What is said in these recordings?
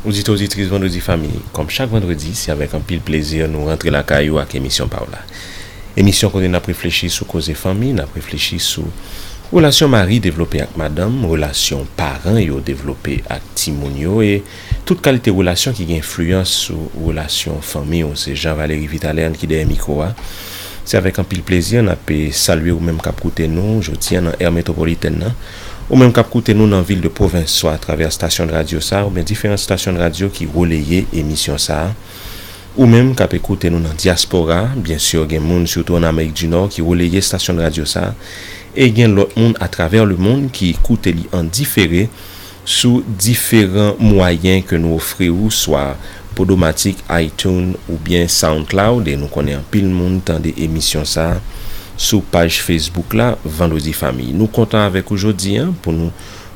Oditè oditris Vendredi Fanmi, kòm chak Vendredi, se avèk anpil plezi nou rantre lakay ou ak emisyon pa w la. Emisyon kote n ap reflechi sou koze fanmi, n ap reflechi sou relasyon mari devlope ak madanm, relasyon paran yo devlope ak timoun yo e, Tout kalite relasyon ki gen enfliyans sou relasyon fanmi w se Jean Valery Vitalean ki dèyè mikwo a. Se avèk anpil plezi n ap salye ou menm k ap koute nou jodi an nan Èr Metwopolitèn nan. Ou menm k ap koute nou nan vil de pwovens swa atravè stasyonradyo sa oubyen diferant stasyonradyo ki releye emisyon sa a. Ou menm k ape koute nou nan dyaspora, byen sur gen moun sitou an Amerik di Nò ki releye stasyonradyo sa a e gen lòt moun atravè lemonn ki koute li an difere Sou diferan mwayen ke nou ofri ou swa Podomatic, iTunes ou byen SoundCloud e nou konnen anpil moun tande emisyon sa sou paj Facebook la Vandredi Fanmi. Nou kontan avèk ou jodi an pou nou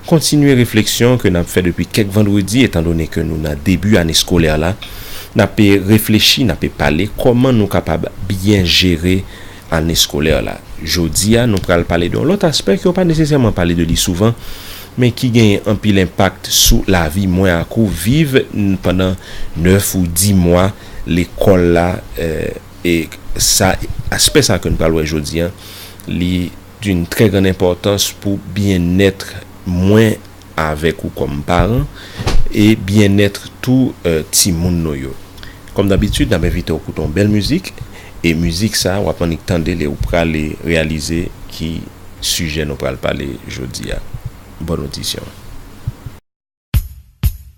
kontinye refleksyon ke nap fè depi kèk vandredi etan done ke nou nan debi ane skolè la nape reflechi nape pale kòman nou kapab byen jere ane eskolè la. Jodi a, nou pral pale de yon lòt aspè ke yo pa nesesèman pale de li souvan, men ki genyen anpil enpakt sou lavi mwen ak ou viv pandan 9 ou 10 mwa lekòl la, e sa, aspè sa ke nou pral wè jodi a, li d'une très grande importance pou byenèt mwen. avèk ou kòm paran e byennèt tou timoun nou yo. Kòm dabitid, n ap envite w koute yon bèl mizik e mizik sa a w ap annik tande li ou prale reyalize ki sijè nou pral pale jodi a. Bòn odisyon!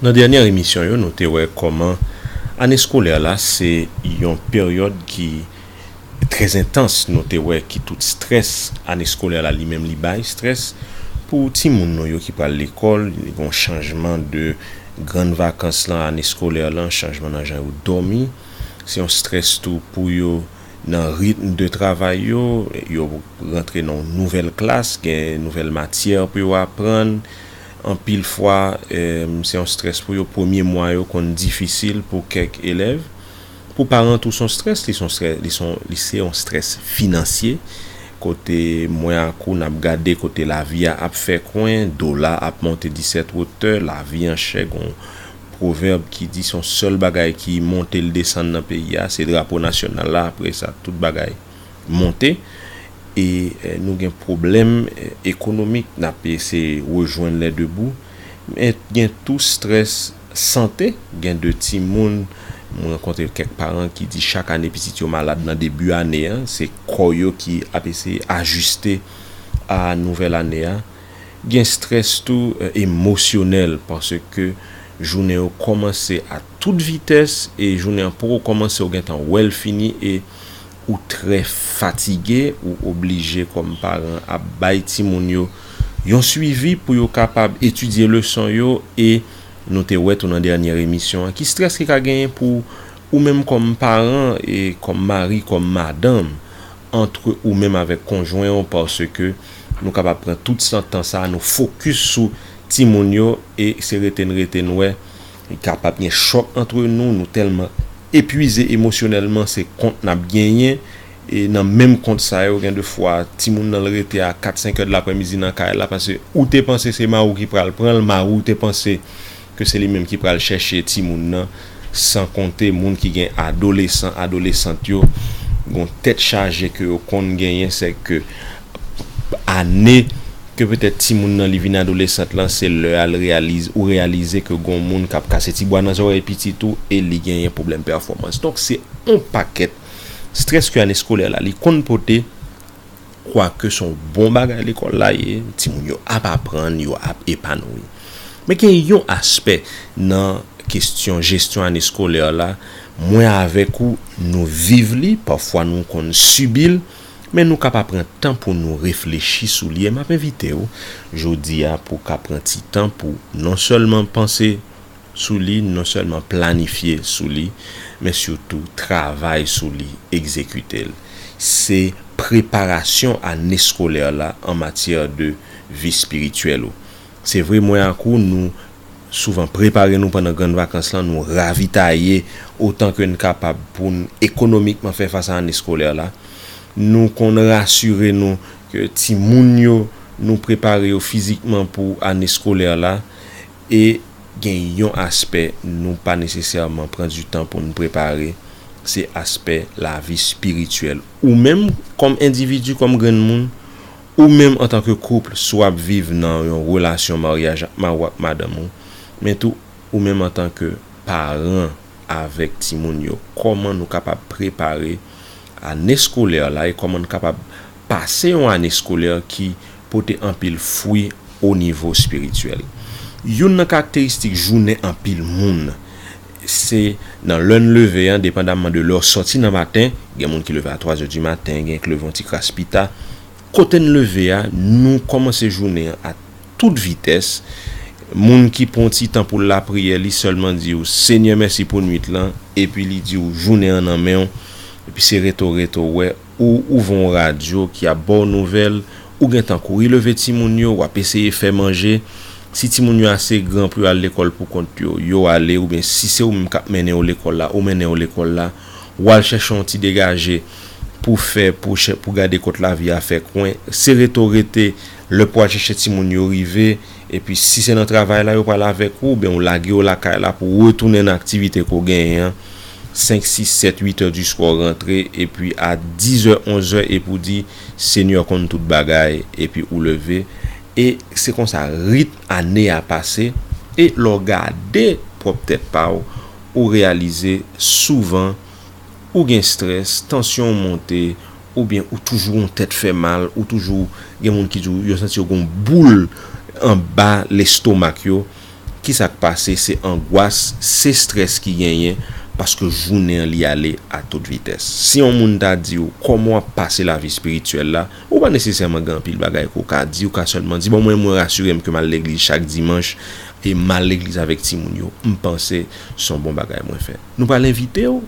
Nan dènyè emisyon yo nou te wè kòman ane skolè la se yon peryòd ki trè entans nou te wè ki tout strès ane skolè la li menm li bay strès pou timoun nou yo ki pral lekòl gon chanjman de grann vakans lan ane skolè lan chanjman nan jan yo dòmi se yon strès tou pou yo nan ritm de travay yo yo rantre nan yon nouvèl klas gen nouvèl matyè pou yo aprann. Anpil fwa, se yon strès pou yo. Premye mwa yo konn difisil pou kèk elèv. Pou paran tou, se yon strès. Li se yon strès finansye, kote mwen ak ou n ap gade kote lavi a ap fè kwen, dola a ap monte disèt wotè, lavi an chè. Gon pwovèb ki di se yon sèl bagay ki monte l desann nan peyi a, se drapo nasyonal la, apre sa tout bagay. monte e nou gen pwoblèm ekonomik n ap eseye rejwenn lè debou men gen tou strès sante gen de timoun m rankontre kèk paran ki di chak ane pitit yo malad nan debi ane a se kò yo ki ap eseye ajiste a nouvèl ane a gen strès tou emosyonèl paske jounen yo kòmanse a. tout vitès e jounen an poko kòmanse ou gentan wèl fini e ou trè fatige ou oblije kòm paran ap bay timoun yo yon swivi pou yo kapab etidye leson yo e nou te wè tou nan dènyè emisyon an ki strès ki ka genyen pou ou menm kòm paran e kòm mari kòm madanm antre ou menm avèk konjwen ou paske nou kapab pran tout san tan sa nou fokis sou timoun yo e se rete n rete n wè Kapab gen chòk antre nou, nou tèlman epwize emosyonèlman se kont n ap genyen e nan menm kont sa yo gen de fwa timoun nan l rete a kat senk è de laprèmidi nan kay la pase ou te panse se mari w ki pral pran l mari w te panse ke se li menm ki pral chèche timoun nan san konte moun ki gen adolesan adolesant yo gon tèt chaje ke yo konn genyen sèke ane ke petèt timoun nan li vin adolesant lan se lè a ou reyalize ke gon moun kap kase ti bwa nan zòrèy pitit ou e li genyen pwoblèm pèfòmans donk se on pakèt strès ke ane skolè la li konn pote kwake son bon bagay lekòl la ye timoun yo ap aprann yo ap epanouyi men gen yon aspè nan kestyon jesyon ane skolè la mwen avèk ou nou viv li pafwa nou konn sibil. Men nou ka pa pran tan pou nou reflechi sou li e map envite ou jodi a pou ka pran ti tan pou non sèlman panse sou li, non sèlman planifye sou li, men sitou travay sou li, egzekite l. Se preparasyon ane skolè la an matyè de vi espirityèl ou. Se vre mwen ak ou nou souvan prepare nou pandan grann vakans lan, nou ravitaye otan ke n kapab pou n ekonomikman fè fas a ane skolè la. Nou konn rasire nou ke timoun yo nou prepare yo fizikman pou ane skolè la e gen yon aspè nou pa nesesèman pran di tan pou n prepare se aspè lavi spirityèl ou menm kòm endividi, kòm grenn moun. Ou menm antan ke couple si w ap viv nan yon relasyon maryaj ak mari w ak madanm ou, men tou ou menm antan ke paran avèk timoun yo, kòman nou kapab prepare ane skolè la e kòman n kapab pase yon ane skolè ki pote anpil fwi o nivo espirityèl. Youn nan karakteristik jounen anpil moun Se nan lè n leve an, depandamman de lè w sòti nan maten, gen moun ki leve a twazè di maten, gen ki leve yon ti kras pita, kote n leve a, nou kòmanse jounen an a tout vitès, moun ki pran yon ti tan pou l lapriyè, li sèlman di w, Senyè mèsi pou nwit lan, epi li di w jounen an nan men w, epi se rete w rete w wè. Ou ouvè yon radyo ki ap ba w nouvèl, ou gen tan kouri leve timoun yo, w ap eseye fè manje. Si timoun yo ase gran pou yo al lekòl pou kont yo, yo ale oubyen si se ou menm k ap mennen yo lekòl la, ou mennen yo lekòl la. W al chèche yon ti degaje pou w fè pou w gade kot lavi a fè kwen. Sere to rete, lè pou w al chèche timoun yo rive. Epi si se nan travay la yo pral avèk ou, oubyen ou lage yo lakay la pou retounen nan aktivite ke w genyen an, senk, sis, sèt, uit è di swa w rantre, epi a dizè, onzè epi w di, Senyè konn tout bagay, epi ou leve, e se konsa ritm ane a pase, e lè w gade pwòp tèt pa w, ou reyalize souvan ou gen strès, tansyon w monte, Oubyen ou toujou yon tèt fè mal, ou toujou gen moun ki di w yo santi yo gen yon boul anba lestomak yo, ki sa k pase? Se angwas, se strès ki genyen paske jounen an li ale a tout vitès. Si yon moun ta di w kòman w ap pase lavi espirityèl la, ou pa nesesèman gen anpil bagay ke w ka di, ou ka sèlman di bon mwen mwen rasire m ke m al legliz chak dimanch e m al legliz avèk timoun yo, m panse se yon bon bagay mwen fè. Nou pral envite w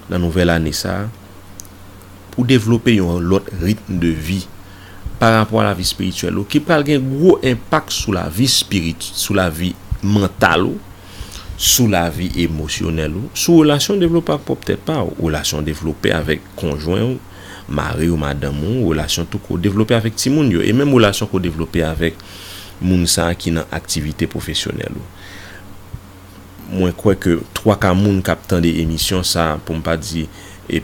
nan nouvèl ane sa a. pou devlope yon lòt ritm de vi pa rapò a lavi espirityèl ou ki pral gen gwo enpak sou lavi espirit, sou lavi mantal ou, sou lavi emosyonèl ou, sou relasyon w devlope ak pwòp tèt pa ou, relasyon w devlope avèk konjwen ou, mari ou, madanm ou, relasyon tou kou w devlope avèk timoun yo, e menm relasyon ke w devlope avèk moun sa ki nan aktivite pwofesyonèl ou. Mwen kwè ke twaka moun k ap tande emisyon sa a, pou m pa di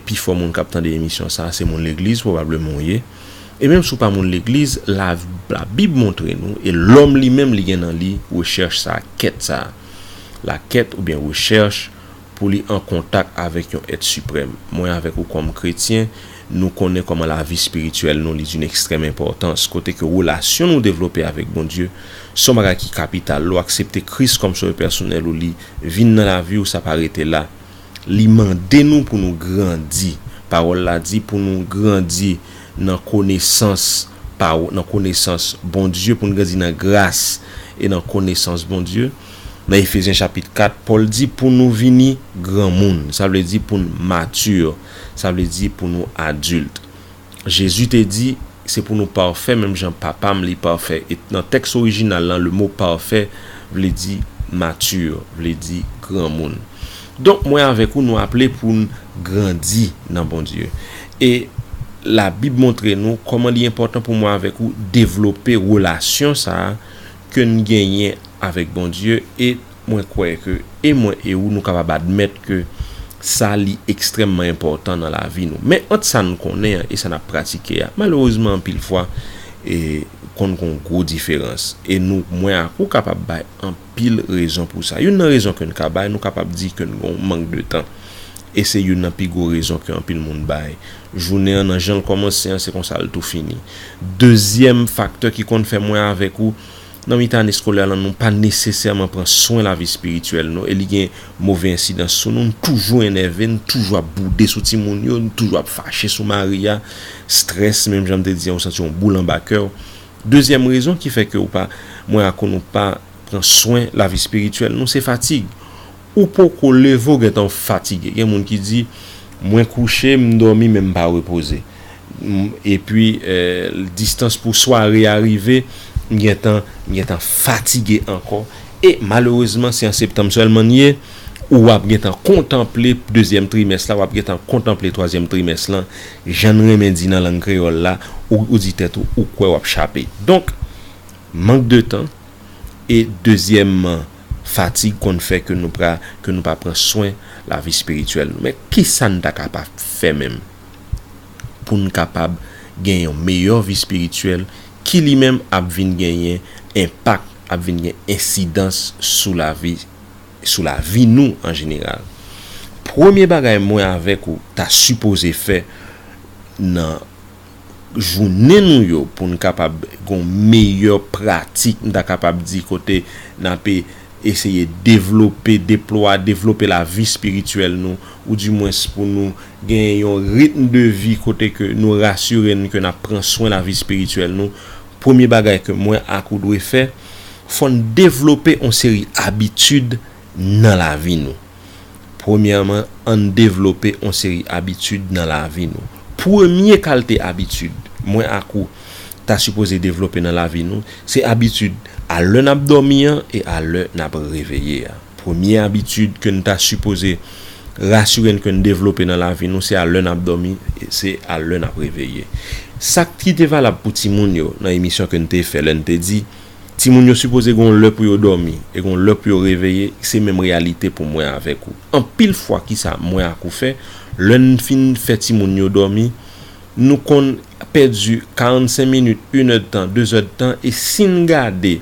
pifò moun k ap tande emisyon sa a, se moun legliz pwobableman w ye. E menm si w pa moun legliz, Labib montre nou, e lòm li menm li gen nan li rechèch sa a, kèt sa a. Lakèt oubyen rechèch pou li an kontak avèk yon èt siprèm. Mwen avèk ou kòm kretyen, Nou konnen kòman lavi spirityèl nou li d'une extrême importance, kote ke relasyon nou devlope avèk Bondye se yon bagay ki kapital. Lè w aksepte Kris kòm Sovè pèsonèl ou, li vin nan lavi ou, sa pa rete la. Li mande nou pou nou grandi. Pawòl la di pou nou grandi nan konesans pa, nan konesans Bondye, pou nou grandi nan gras e nan konesans Bondye. Nan Efezyen chapit 4, Pòl di pou nou vini granmoun. Sa vle di pou nou mature. sa vle di pou nou adilt. Jezi te di, Se pou nou pafè menm jan Papa m li pafè. E nan tèks orijinal lan, lemo pafè vle di mature, vle di granmoun. Donk, mwen avèk ou nou aple pou n grandi nan Bondye. E Labib montre nou kòman li enpòtan pou mwen avèk ou devlope relasyon sa a ke n genyen avèk Bondye e. Mwen kwè ke e mwen e ou nou kapab admèt ke sa li ekstrèmman enpòtan nan lavi nou. Men ant sa n konnen an e sa n ap pratike a, malerezman anpil fwa e konn gon gwo diferans. E nou, mwen ak ou kapab bay anpil rezon pou sa. Youn nan rezon ke n ka bay, nou kapab di ke n gon mank de tan. E se youn nan pi gwo rezon ke anpil moun bay. Jounen an nan jan l kòmanse an se konsa l tou fini. Dezyèm faktè ki konn fè mwen avèk ou. Nan mitan ane skolè lan nou pa nesesèman pran swen lavi espirityèl nou e li gen move ensidans sou nou, n toujou enève, n toujou ap boude sou timoun yo, n toujou ap fache sou mari a, strès menm jan m te di an ou santi yon boul anba kè w. Dezyèm rezon ki fè ke ou pa, mwen ak ou nou pa pran swen lavi espirityèl nou se fatig. Ou poko leve ou gentan fatige. Gen moun ki di, Mwen kouche, m dòmi men m pa repoze. Epi distans pou sware a rive, m gentan m gentan fatige ankò. E malerezman se an septanm sèlman n ye, ou ap gentan kontanple dezyèm trimès la, w ap gentan kontanple twazyèm trimès lan. Jan n renmen di nan lang kreyòl la, ou di tèt ou ou kwè w ap chape. Donk, mank de tan e dezyèmman, Fatig konn fè ke nou pra ke nou pa pran swen lavi spirityèl nou. Men kisa n ta ka pa fè menm pou n kapab gen yon meyè vi spirityèl ki li menm ap vin genyen enpak, ap vin gen ensidans sou lavi sou lavi nou an jeneral. Premye bagay mwen avèk ou ta sipoze fè nan. jounen nou yo pou n kapab gon meyè pratik m ta kapab di kote n ape eseye devlope, deplwa, devlope lavi espirityèl nou ou di mwens pou nou gen yon ritm de vi kote ke nou rasire n ke n ap pran swen lavi espirityèl nou premye bagay ke mwen ak ou dwe fè fò n devlope yon seri abitid nan lavi nou. Premyèman, ann devlope on seri abitid nan lavi nou. Premye kalte abitid, mwen ak ou, ta sipoze devlope nan lavi nou, se abitid a lè n ap dòmi an e a lè n ap reveye a. Premye abitid ke n ta sipoze rasire n ke n devlope nan lavi nou, se a lè n ap dòmi e se a lè n ap reveye. Sa ki te valab pou timoun yo nan emisyon ke n te fè lè n te di, Timoun yo sipoze gon lè pou yo dòmi e gon lè pou yo reveye, se menm reyalite pou mwen avèk ou. Anpil fwa kisa mwen ak ou fè, lè n fin fè timoun yo dòmi, nou konn pèdi 45 minit, inèdtan, dezèdtan e si n gade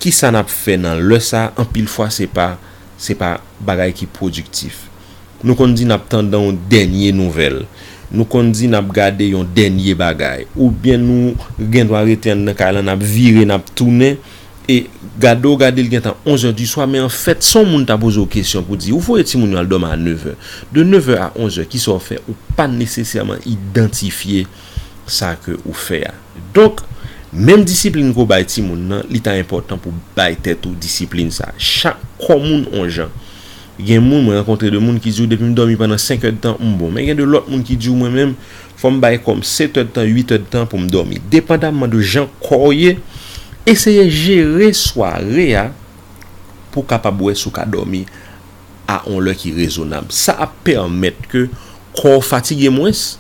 kisa n ap fè nan lè sa, anpil fwa se pa se pa bagay ki pwodiktif. Nou konn di n ap tandan yon dènye nouvèl. Nou konn di n ap gade yon dènye bagay. Oubyen nou gen dwa rete anndan kay lan, n ap vire, n ap tounen. E gade w gade li gen tan onzè di swa, men anfèt si yon moun ta poze w kesyon pou di ou voye timoun yo al dòmi a nevè. De nevè a onzè ki sa w fè? Ou pa nesesèman idantifye sa ke ou fè a. Donk, menm disiplin ke w bay timoun nan, li ta enpòtan pou w bay tèt ou disiplin sa. Chak kò moun on jan. Gen moun, mwen rankontre de moun ki diw depim dòmi pandan 5 èd tan m bon. Men gen de lòt moun ki diw mwen menm fòm bay kòm 7 èd tan 8 èd tan poum dòmi. Depandamman de jan kòw ye, eseye jere sware a pou kapab wè si w ka dòmi a on lè ki rezonab. Sa ap pèmèt ke Kò w fatige mwens,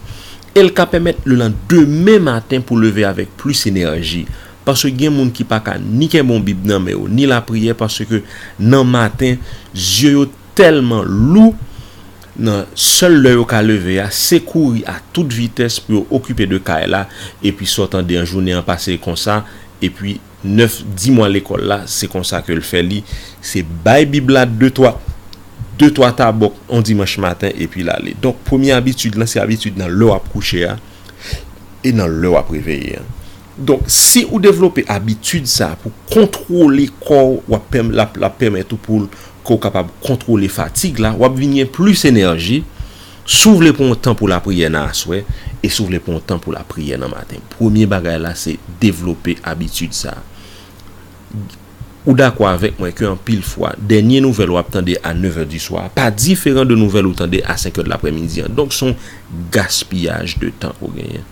e l ka pèmèt le lan demen maten pou leve avèk plis enèji. Paske gen moun ki pa ka ni kenbe yon bib nan men yo, ni lapriyè paske nan maten zye yo tèlman lou, nan sèl lè yo ka leve a, se kouri a tout vitès pou yo okipe de kay la, epi sa w tande an jounen an pase konsa, epi. 9 di mwa lekòl la, se konsa ke l fè li, se bay Bib la de twa, de twa tabòk yon dimanch maten epi l ale. Donk, premye abitid lan, se abitid nan lè w ap kouche a e nan lè w ap reveye an. Donk, si ou devlope abitid sa pou kontwole kò w, w ap pèm, l ap, l ap pèmèt ou pou l, ke w kapab kontwole fatig la, w ap vin gen plis enèji. Si w vle pran yon tan pou lapriyè nan aswè, e si w vle pran yon tan pou lapriyè nan maten, premye bagay la se devlope abitid sa a. Ou dakò avèk mwen ke anpil fwa, dènye nouvèl w ap tande a nevè diswa a pa diferan de nouvèl ou tande a senkè dlaprèmidi an. Donk, se yon gaspiyaj de tan ou genyen.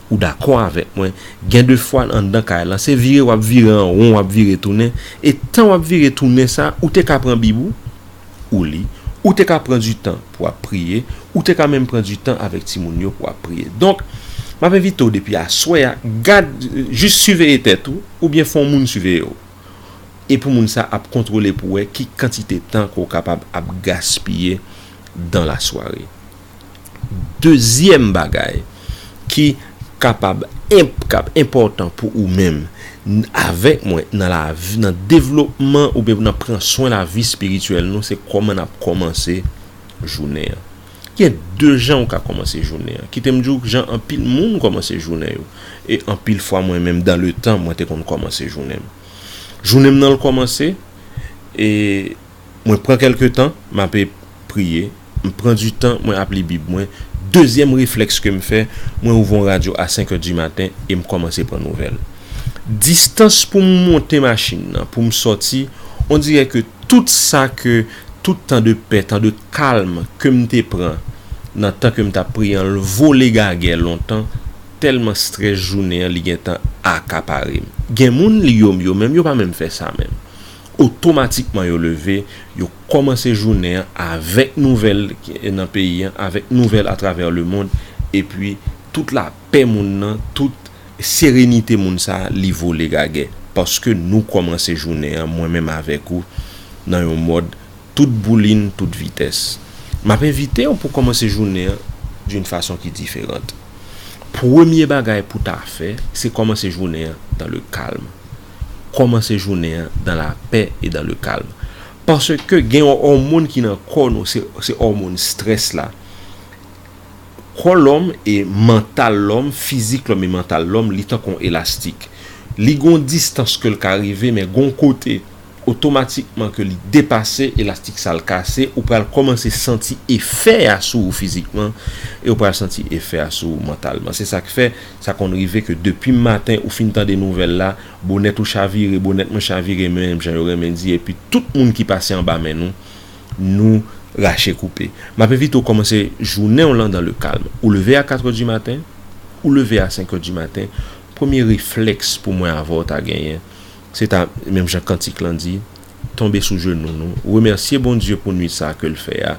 Ou dakò avèk mwen, gen de fwa anndan kay lan, se vire w ap vire an won, w ap vire tounen, e tan w ap vire tounen sa a, ou te ka pran bib ou, ou li, ou te ka pran di tan pou ap priye, ou te ka menm pran di tan avèk timoun yo pou ap priye. Donk, m ap envite w depi aswè a, gad, jis siveye tèt ou, oubyen fè yon moun siveye w. E pou moun sa ap kontwole pou wè ki kantite tan ke w kapab ap gaspiye dan lasware. Dezyèm bagay ki kapab enp kap enpòtan pou ou menm avèk mwen nan lavi nan devlopman oubyen pou nan pran swen lavi espirityèl nou se kòman nap kòmanse jounen an gen de jan ou ka kòmanse jounen an kitem diw jan anpil moun kòmanse jounen yo e anpil fwa mwen menm dan le tan mwen te konn kòmanse jounenm jounenm nan l kòmanse e. Mwen pran kelke tan mape priye, m pran du tan mwen ap li bib mwen, dezyèm reflèks kem fè mwen ouvon radyo a 5 è du maten em kòmanse pran nouvèl. Distans poum monte machin nan poum sòti on dirè ke tout sa ke tout tan de pè tan de kalm kem te pran nan tan kem tap priye an l vole gagè lontan tèlman strès jounen an li gentan akaparem. Gen moun li yo m yo menm yo pa menm fè sa menm. otomatikman yo leve, yo kòmanse jounen an avèk nouvèl nan peyi an, avèk nouvèl atravè lemond, epi tout lapè moun nan, tout serenite moun sa a, li vole gagè. Paske nou kòmanse jounen an, mwen menm avèk ou, nan yon mòd tout boulin, tout vitès. M ap envite w pou kòmanse jounen an d'une façon qui différente. Premye bagay pou ta fè, se kòmanse jounen an dans le calme. Kòmanse jounen an dan la pè e dan le kalm. Paske gen yon òmon ki nan kò nou, se òmon strès la. Kò lòm e mantal lòm, fizik lòm e mantal lòm, li tankou yon elastik. Li gen yon distans ke l ka rive, men gen yon kote, otomatikman ke li depase, elastik sa l kase, ou pral kòmanse santi efè a sou ou fizikman, e ou pral santi efè a sou ou mantalman. Se sa k fè, Sa konn rive ke depi maten ou fin tande nouvèl la, bonèt ou chavire, bonèt mwen chavire menm jan yo renmen di epi tout moun ki pase anba men nou, nou rache koupe. M ap envite w kòmanse jounen w lan dans le calme. Ou leve a katrè di maten, ou leve a senkè di maten, premye reflèks pou mwen avè w ta genyen, se ta, menm jan kantik lan di, tonbe sou jenou nou, remèsye Bondye pou nwit sa ke l fè a,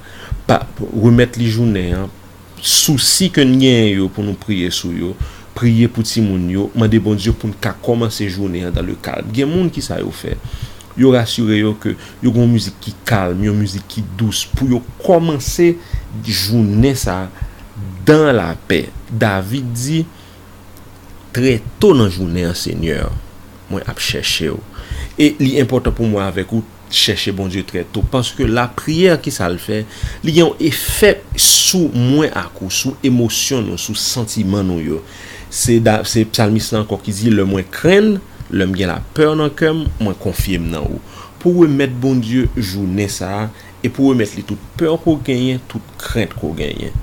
pa, remèt li jounen an, Sousi ke n genyen yo pou nou priye sou yo, priye pou timoun yo, mande Bondye pou n ka kòmanse jounen an dan le kalm. Gen moun ki sa yo fè? Yo rasire yo ke yo gen yon mizik ki kalm, yon mizik ki dous pou yo kòmanse jounen sa a dan lapè. David di, Trè to nan jounen an, Senyè, mwen ap chèche w, e li enpòtan pou mwen avèk ou. Chèche Bondye trè to, paske lapriyè ki sa l fè? Li gen yon efè sou mwen ak ou, sou emosyon nou, sou santiman nou yo. Se psalmiste la ankò ki di, lè mwen krenn, lè m gen lapeur nan kè m, mwen konfye m nan ou. Pou remèt Bondye jounen sa a, e pou remèt li tout peur ke w genyen, tout krent ke w genyen.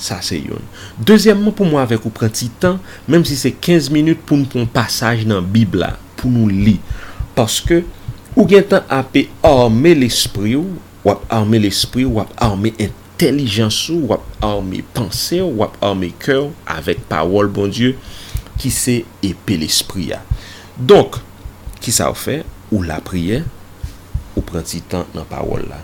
Sa se youn. Dezyèmman, pou mwen avèk ou pran ti tan, menm si se 15 minit, pou n pran yon pasaj nan Bib la. pou nou li paske ou gentan ape arme lespri w wap arme lespri w wap arme entèlijans ou wap arme panse w wap arme kè w avèk pawòl Bondye ki se epe lespri a donk kisa w fè ou lapriyè ou pran ti tan nan pawòl la.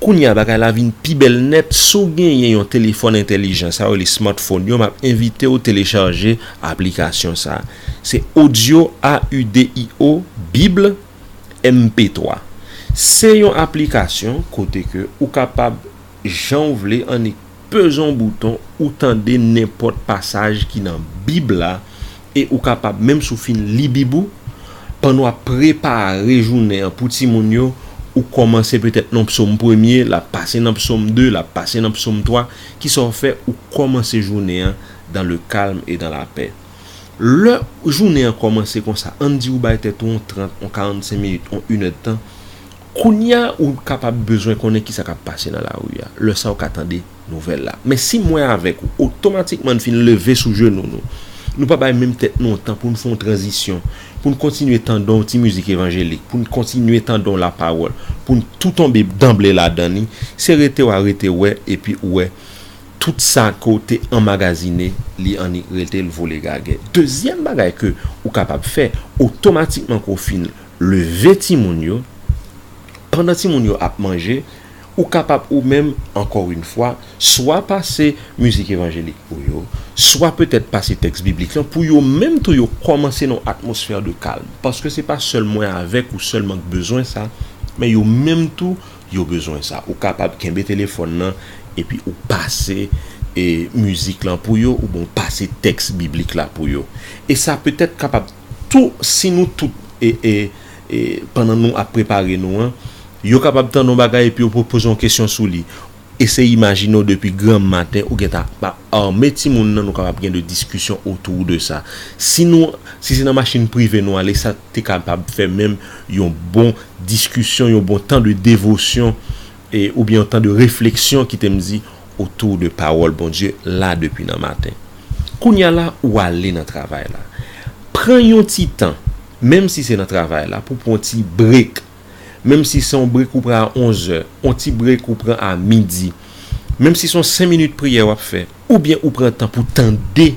Kounye a bagay la vin pi bèl nèt, si w genyen yon telefòn entèlijan sa yo rele smartphone yo map envite w telechaje aplikasyon sa se audio AUDIO bible MP3 se yon aplikasyon kote ke ou kapab jan w vle an. Peze yon bouton, ou tande nenpòt pasaj ki nan Bib la e ou kapab, menm si w fin li Bib ou, pandan w ap prepare jounen an pou timoun yo, ou kòmanse petèt nan Psòm premye, l ap pase nan Psòm de, l ap pase nan Psòm twa. Kisa w fè? Ou kòmanse jounen an dan le kalm e dan lapè. Lè jounen an kòmanse konsa, ann di ou bay tèt ou yon trant, yon karannsenk minit, yon inèdtan, Kounya ou kapab bezwen konnen kisa kap pase nan lari a, lè sa ou ka tande nouvèl la. Men si mwen avèk ou, otomatikman n fin leve sou jenou nou. Nou pa bay menm tèt nou yon tan pou n fè yon tranzisyon, pou n kontinye tande yon ti mizik evanjelik, pou n kontinye tande yon lapawòl, pou n tou tonbe danble ladan li, se rete wa rete wè epi ou wè tout sa ke w te anmagazine li annik rete l vole gagè. Dezyèm bagay ke ou kapab fè, otomatikman ke w fin Leve timoun yo, pandan timoun yo ap manje, ou kapab ou menm, ankò yn fwa, swa pase mizik evanjelik pou yo, swa petèt pase tèks biblik lan, pou yo menm tou yo kòmanse nan yon atmosfè de kalm. Paske se pa sèl mwen avèk ou sèlman k bezwen sa, men yo menm tou yo bezwen sa. Ou kapab kenbe telefòn lan epi ou pase mizik lan pou yo oubyen ou pase tèks biblik la pou yo. E sa petèt kapab. Tou, si nou tout e, e, e, pandan nou ap prepare nou an, yo kapab tande yon bagay epi yo pwopoze yon kesyon sou li. Eseye imajine w depi granmmaten ou gen ta ap arme timoun nan nou kapab gen de diskisyon autour de sa. Si nou, si se nan machin prive nou ale, sa te kapab fè menm yon bon diskisyon, yon bon tan de devosyon e, oubyen yon tan de refleksyon kite m di, otou de pawòl Bondye la depi nan maten. Kounya la ou ale nan travay la. Pran yon ti tan, menm si se nan travay la pou pran yon ti break. Menm si se yon break ou pran a 11 zè, yon ti break ou pran a midi. Menm si se yon 5 minit priyè wap fè. Oubyen ou pran tan pou tande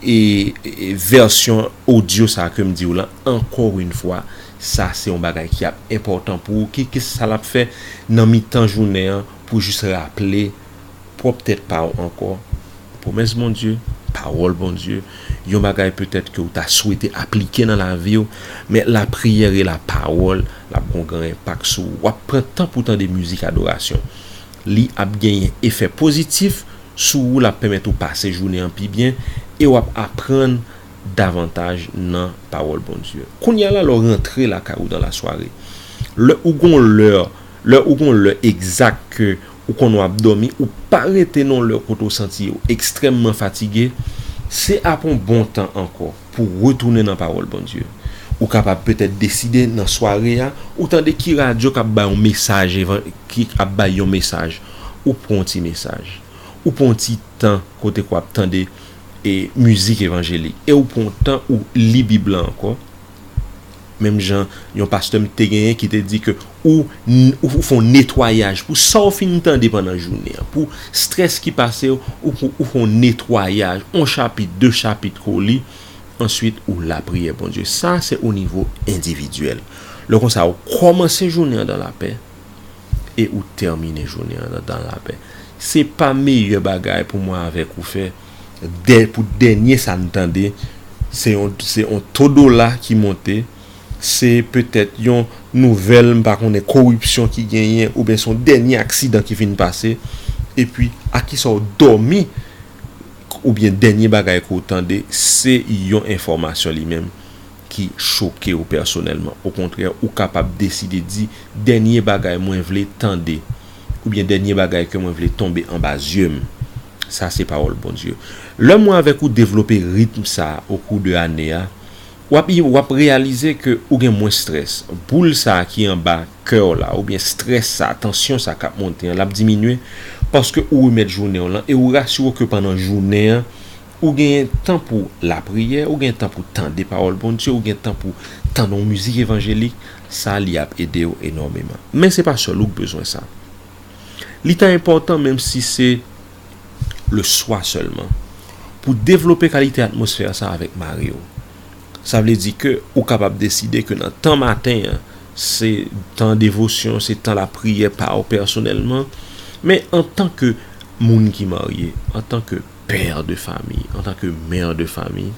vèsyon odyo sa a kem diw lan ankò yon fwa. Sa se yon bagay ki ap enpòtan pou ou. Kikis sa lap fè nan mitan jounen an pou jis raple pwòp tèt pa w ankò pwomès Bondye, pawòl Bondye, yon bagay petèt ke w ta swete aplike nan lavi w, men lapriyè e lapawòl l ap gon gran enpak sou ou. W ap pran tan pou w tande mizik adorasyon. Li ap genyen efè pozitif sou ou, l ap pèmèt ou pase jounen an pi byen e w ap aprann davantaj nan pawòl Bondye. Kounye a la lè w rantre lakay ou dan lasware, lè ou gon lè. Lè ou gon lè egzak ke ou konnen wap dòmi ou pa rete nan lè kote ou santi ou ekstrèmman fatige, se ap on bon tan ankò pou w retounen nan pawòl Bondye. Ou kapab petèt deside nan sware a ou tande ki radyo kap bay on mesaj evan ki ap bay yon mesaj ou pran on ti mesaj. Ou pran on ti tan kote ke wap tande e mizik evanjelik e ou pran on tan ou li bib lan ankò Menm jan yon pastè m te genyen ki te di ke ou ou fè yon netwayaj pou sa ou fin tande pandan jounen an, pou strès ki pase w, ou fè yon netwayaj, yon chapit, de chapit ke w li, answit ou lapriyè Bondye. Sa se o nivo endividyèl. Lè konsa ou kòmanse jounen an dan lapè e ou tèmine jounen an dan lapè. Se pa meyè bagay pou mwen avèk ou fè. pou dènye sa n tande se yon se yon to dola ki monte se petèt yon nouvèl m pa konnen koripsyon ki genyen oubyen se yon dènye aksidan ki fin pase epi a kisa w dòmi oubyen dènye bagay ke w tande se yon enfòmasyon li menm ki choke w pèsonèlman okontrè ou kapab deside di dènye bagay mwen vle tande oubyen dènye bagay ke mwen vle tonbe anba zye m. Sa se pawòl Bondye. Lè mwen avèk ou devlope ritm sa okou de ane a, wap i wap reyalize ke ou gen mwens strès. Boul sa ki anba kè w la oubyen strès sa, tansyon sa kap monte an lap diminye paske ou remèt jounen w lan e ou rasire w ke pandan jounen an ou gen tan pou lapriyè, ou gen tan pou tande pawòl Bondye, ou gen tan pou tande yon mizik evanjelik, sa li ap ede w enòmeman. Men se pa sèl ou k bezwen sa. Li ta enpòtan, menm si se leswa sèlman, pou w devlope kalite atmosfè sa a avèk mari w. Sa vle di ke ou kapab deside ke nan tan maten an, se tan devosyon, se tan lapriyè pa w pèsonèlman, men antan ke moun ki marye, antan ke pè de fami, antan ke mè de fami,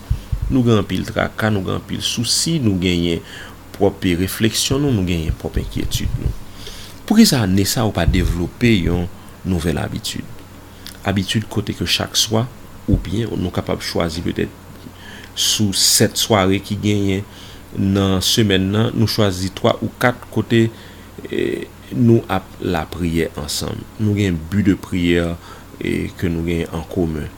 nou gen anpil traka, nou gen anpil sousi, nou genyen. pwòp refleksyon nou, nou genyen pwòp enkyetid nou. Poukisa ane sa ou pa devlope yon nouvèl abitid? Abitid kote ke chak swa, oubyen nou kapab chwazi petèt sou 7 sware ki genyen nan semèn nan, nou chwazi 3 ou 4 kote. Nou ap lapriyè ansanm. Nou gen bi de priyè ke nou gen an komen.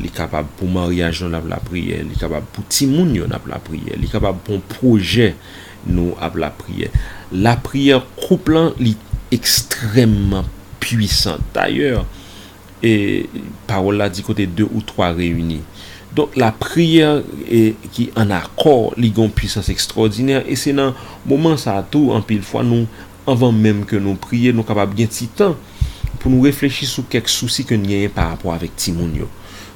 Li kapab pou maryaj nou n ap lapriyè, li kapab pou timoun yo n ap lapriyè, li kapab pou yon pwojè nou ap lapriyè. Lapriyè koup lan li ekstrèmman pwisan. Dayè. E pawòl la di kote de ou twa reyini. Donk lapriyè ki ann akò li gen yon pwisans ekstwòdinè e se nan moman sa a tou anpil fwa nou anvan menm ke nou priye nou kapab gen ti tan pou nou reflechi sou kèk sousi ke n genyen pa rapò avèk timoun yo.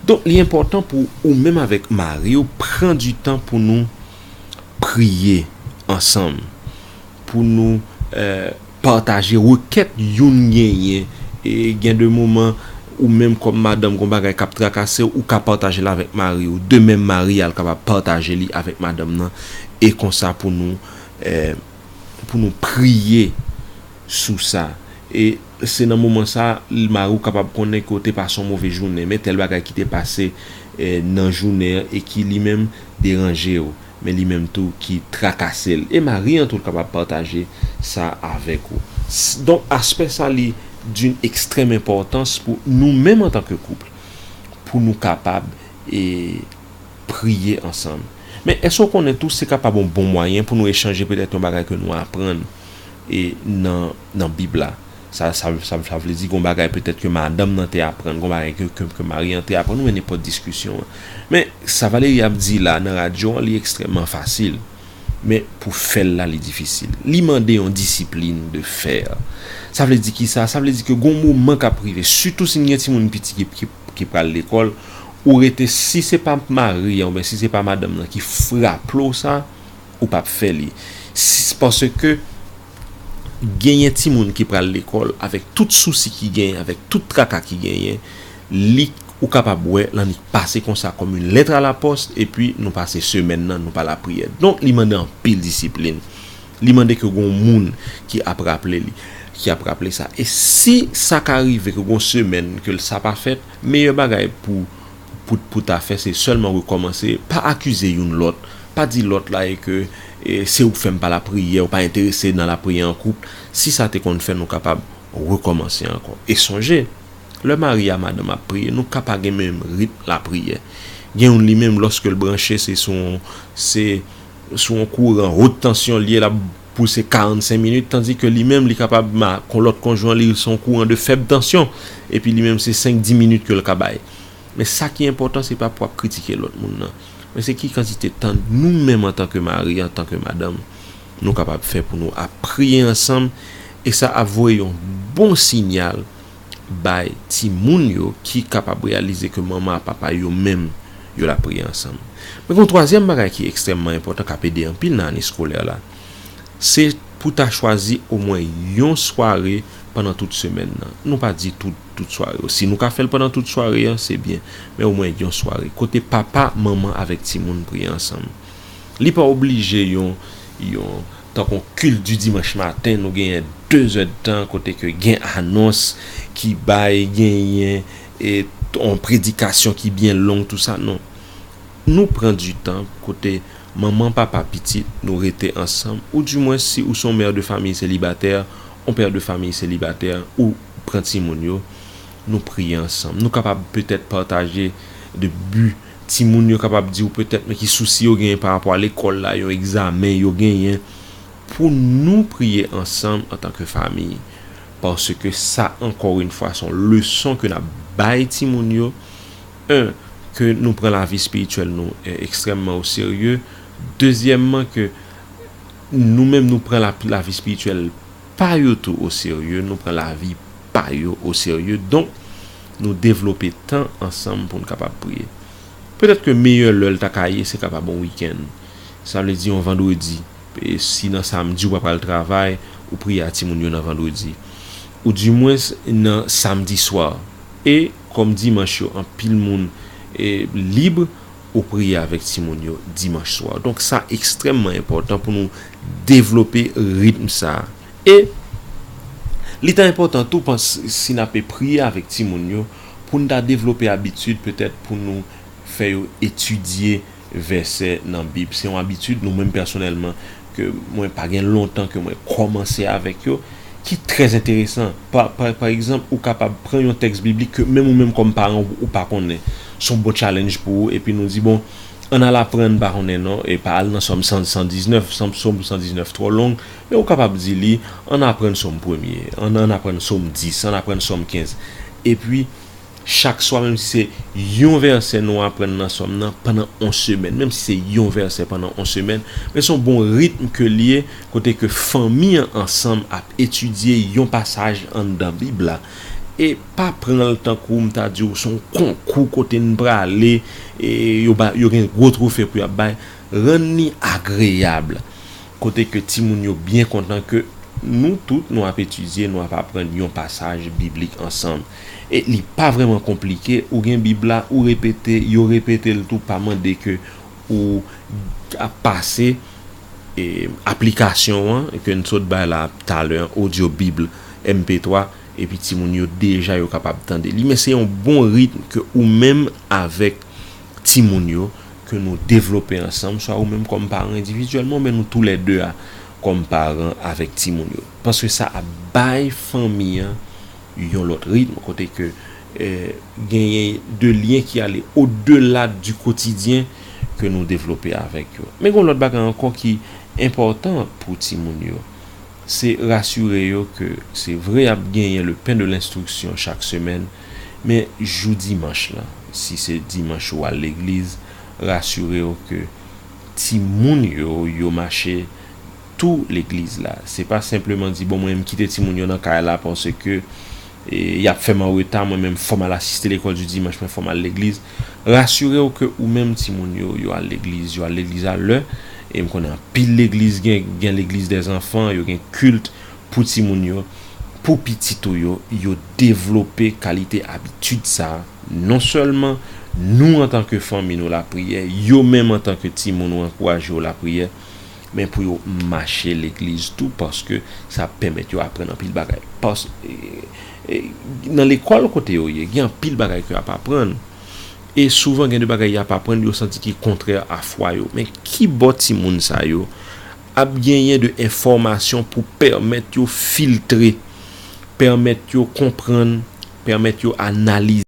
Donk li enpòtan pou ou menm avèk mari w pran di tan pou nou priye ansanm pou nou. Pataje rekèt youn genyen. Gen de moman, ou menm kòm madanm gon bagay k ap trakase w, ou ka pataje l avèk mari w. De menm mari a l kapab pataje li avèk madanm nan. E konsa pou nou pou nou priye sou sa. E se nan moman sa a l mari w kapab konnen ke w te pase yon move jounen. Men tèl bagay ki te pase nan jounen an e ki li menm deranje w. men li menm tou ki trakase l e mari an tou kapab pataje sa avèk ou donk aspè sa li d'une extrême importance pou nou menm antan ke couple pou nou kapab e priye ansanm men èske ou konnen tou se kapab yon bon mwayen pou nou echanje petèt yon bagay ke nou aprann e nan nan bib la. Sa vle di gon bagay petèt ke madanm nan te aprann, gon bagay ke mari an te aprann oubyen nenpòt diskisyon an. Men, sa Valérie ap di la nan radyo an li ekstrèmman fasil. Men, pou fè l la li difisil. Li mande yon disiplin de fer. Sa vle di kisa? Sa vle di ke gon moman k ap rive, sitou si n gen timoun piti ki pral lekòl, ou rete si se pa mari an oubyen si se pa madanm nan ki raple w sa, ou p ap fè li. Paske, Genyen timoun ki pral lekòl avèk tout sousi ki genyen, avèk tout traka ki genyen, li ou kapab wè lannik pase konsa kòm yn lèt a la pòs epi nou pase semèn nan nou pa lapriyè. Donk li mande anpil disiplin. Li mande ke gon moun ki ap raple li, ki ap raple sa. E si sa ka rive ke gon semèn ke sa pa fèt, meyè bagay pou. Pout pou ta fè se sèlman rekòmanse, pa akize youn lòt, pa di lòt la e ke se ou k fè m pa lapriyè, ou pa enterese nan lapriyè an koup, si sa te konn fè nou kapab rekòmanse ankò. E sonje, lè mari a madanm ap priye, nou ka pa gen menm ritm lapriyè. Gen youn li menm lòske l branche se sou yon se sou yon kouran haute tension l ye l ap. pou se 45 minit tandi ke li menm li kapab ma kon lòt konjwen li se yon kouran de fèb tansyon epi li menm se 5 10 minit ke l ka bay men sa ki enpòtan se pa pou ap kritike lòt moun nan men se ki kantite tan nou menm antan ke mari antan ke madanm nou kapab fè pou nou ap priye ansanm e sa ap voye yon bon sinyal bay timoun yo ki kapab reyalize ke manman ak papa yo menm yo la priye ansanm. Men gon twazyèm bagay ki ekstrèmman enpòtan kap ede anpil nan ane skolè la, se pou ta chwazi omwen yon sware pandan tout semèn nan. Nou pa di tout tout sware yo. Si nou ka fèl pandan tout sware an se byen, men omwen yon sware kote papa, manman avèk timoun priye ansanm. Li pa oblije yon yon. Tankou Culte du Dimanche Matin nou genyen 2 zè de tan kote ke gen anons ki bay, genyen yon predikasyon ki byen long tou sa. Non. Nou pran du tan kote manman, papa, pitit nou rete ansanm ou du mwens si ou se yon mère de famille célibataire, yon père de famille célibataire ou pran timoun yo nou priye ansanm. Nou kapab petèt pataje de bu. Timoun yo kapab di ou petèt men ki sousi yo genyen pa rapò a lekòl la, yon egzamen yo genyen, pou nou priye ansanm antan ke fami. Paske sa ankò yn fwa son leson ke nap bay timoun yo, 1 ke nou pran lavi espirityèl nou ekstrèmman o serye, dezyèmman ke nou menm nou pran lavi espirityèl pa yo tou o serye, nou pran lavi pa yo o serye. Donk. nou devlope tan ansanm pou n kapab priye. Petèt ke meyè lè l ta ka ye se kapab yon wikenn, sa vle di yon vandredi, si nan samdi ou pa pral travay, ou priye a timoun yo nan vandredi. Ou di mwens nan samdi swa. E kòm dimanch yo anpil moun lib, ou priye avèk timoun yo dimanch swa. Donk sa ekstrèmman enpòtan pou nou devlope ritm sa. E li ta enpòtan tou pans si n ape priye avèk timoun yo pou n ta devlope abitid petèt pou nou fè yo etidye vèsè nan Bib. Se yon abitid nou menm pèsonèlman ke mwen pa gen lontan ke mwen kòmanse avèk yo ki trè enteresan. Pa pa egzanp ou kapab pran yon tèks biblik ke menm ou menm kòm paran ou pa konnen. Se yon bon challenge pou ou epi nou di bon ann al aprann pa konnen non epa al nan Sòm 119 Sòm 119 twò long. E ou kapab di li, Ann aprann Sòm premye, ann aprann Som 10, ann aprann Sòm 15. Epi, chak swa, menm si se yon vèsè nou aprann nan Sòm nan pandan yon semèn, menm si se yon vèsè pandan yon semèn, men se yon bon ritm ke li ye, kote ke fanmi an ansanm ap etidye yon pasaj anndan Bib la. E pa pran l tankou m ta di ou se yon konkou kote n prale, e yo ba, yo gen gwo twofe pou y ap bay. Rann li agreyab. Kote ke timoun yo byen kontan ke nou tout nou ap etidye, nou ap aprann yon pasaj biblik ansanm. E li pa vrèman konplike, ou gen bib la, ou repete, yo repete l tou, pa mande ke ou ap pase aplikasyon an ke n sot bay la talè an, audio bible MP3, epi timoun yo deja yo kapab tande li. Men se yon bon ritm ke ou menm avèk timoun yo ke nou devlope ansanm, swa ou menm kòm paran endividyèlman oubyen nou tou lè de a kòm paran avèk timoun yo. Paske sa ap bay fanmi an yon lòt ritm kote ke genyen de lyen ki ale odela di kotidyen ke nou devlope avèk yo. Men gen yon lòt bagay ankò ki enpòtan pou timoun yo, se rasire yo ke se vre y ap genyen le pen de lenstriksyon chak semèn, Men jou dimanch lan, si se dimanch ou al legliz, rasire w ke timoun yo, yo mache tou legliz la. Se pa senpleman di, bon mwen m kite timoun yo nan kay la paske y ap fè m an reta, mwen menm fò m al asiste lekòl di dimanch, mwen fò m al legliz. Rasire w ke ou menm timoun yo, yo al legliz, yo al legliz a lè. E m konnen anpil legliz gen, gen legliz dèzanfan, yo gen kilt pou timoun yo, pou pitit ou yo, yo devlope kalite abitid sa a, non sèlman nou antanke fanmi nou lapriyè, yo menm antanke timoun ou ankouraje yo lapriyè, men pou yo mache legliz tou paske sa ap pèmèt yo aprann anpil bagay. Nan lekòl kote yo ye, gen anpil bagay ke y ap aprann e souvan gen de bagay y ap aprann yo santi ki kontrè a fwa yo. Men kibò timoun sa yo Ap genyen de enfòmasyon pou pèmèt yo filtre, pèmèt yo konprann, pèmèt yo analize.